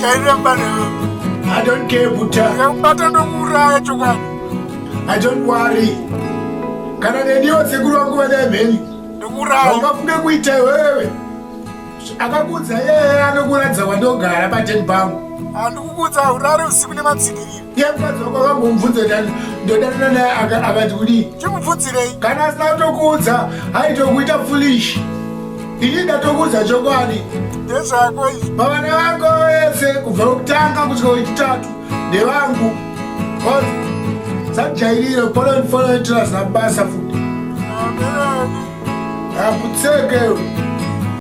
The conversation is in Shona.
chairemba newe i don't care buta ndikakubata ndokuuraya chokwadi i don't worry kana neniwo sekuru vangu vadai mheni ndikuuraya ungafunge kuita iwewe akakuudza yeye anokuratidza kwandogara pateni pangu handikukuudza urare usiku nematsigiriro yemukadzi wako vambomubvunza ndani ndodanana naye akati kudii chimubvunzirei kana asina kutokuudza aitokuita fulish ini ndatokuudza chokwadi ndezvako izvi pavana vako vese kubva kutanga kusvika wechitatu ndevangu sajairiro polonfolonitira zabasa futi Amen. akutseke